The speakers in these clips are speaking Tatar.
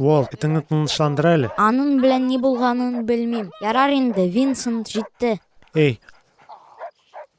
Уолт, итеңне тынычландыр әле. Аның белән ни булганын белмим. Ярар инде, Винсент җитте. Эй,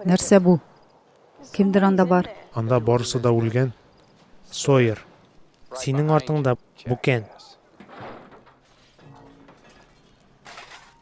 Нәрсә бу? Кемдер анда бар? Анда барысы да үлгән. Сойер. Синең артыңда бүкән.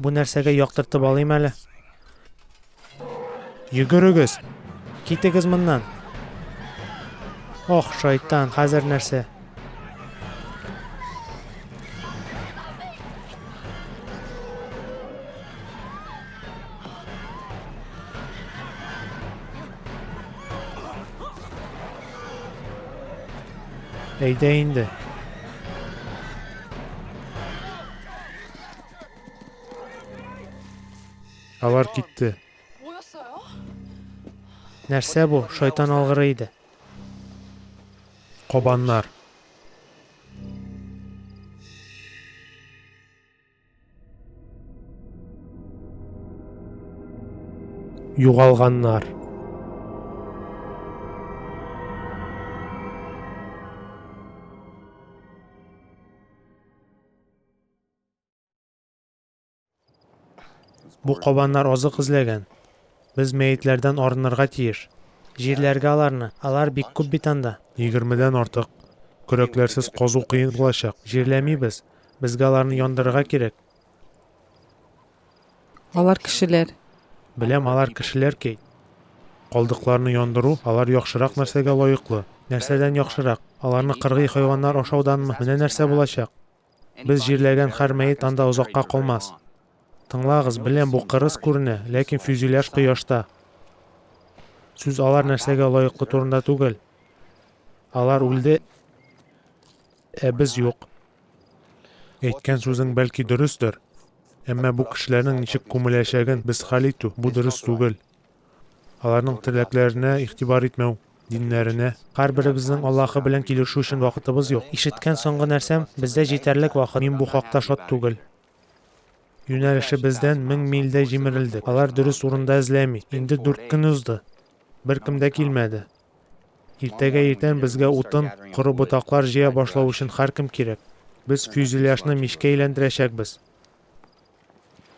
Бу нәрсәгә яктыртып алыйм әле. Йөгерегез! Китегез моннан! Ох, шайтан, хәзер нәрсә? Әйдә инде. Алар китте. Нәрсә бу? Шайтан алгыры иде. Кабаннар. Югалганнар. Бу кабаннар азык эзләгән. Без мәетләрдән арынырга тиеш. Җирләргә аларны. Алар бик күп бит анда. Егермедән артык. Көрәкләрсез казу кыен булачак. Җирләмибез. Безгә аларны яндырырга кирәк. Алар кешеләр. Беләм, алар кешеләр, Кейт. Калдыкларны яндыру, алар яхшырак нәрсәгә лаеклы? Нәрсәдән яхшырак? Аларны кыргый хайваннар ашауданмы? Менә нәрсә булачак. Без җирләгән хәр мәет анда озакка калмас. Тыңлагыз, беләм бу кырыс күренә, ләкин фюзеляж кояшта. Сүз алар нәрсәгә лаеклы турында түгел. Алар үлде, ә без юк. Әйткән сүзең бәлки дөрестер, әмма бу кешеләрнең ничек күмеләчәген без хәл итү, бу дөрес түгел. Аларның теләкләренә игътибар итмәү, диннәренә. Һәрберебезнең Аллаһы белән килешү өчен вакытыбыз юк. Ишеткән соңгы нәрсәм, бездә җитәрлек вакыт, мин бу хакта шат түгел. Юнәлешебездән мең мильдә җимерелдек. Алар дөрес урында эзләми. Инде дүрт көн узды. Беркем дә килмәде. Иртәгә иртән безгә утын, коры ботаклар җыя башлау өчен һәркем кирәк. Без фюзеляжны мичкә әйләндерәчәкбез.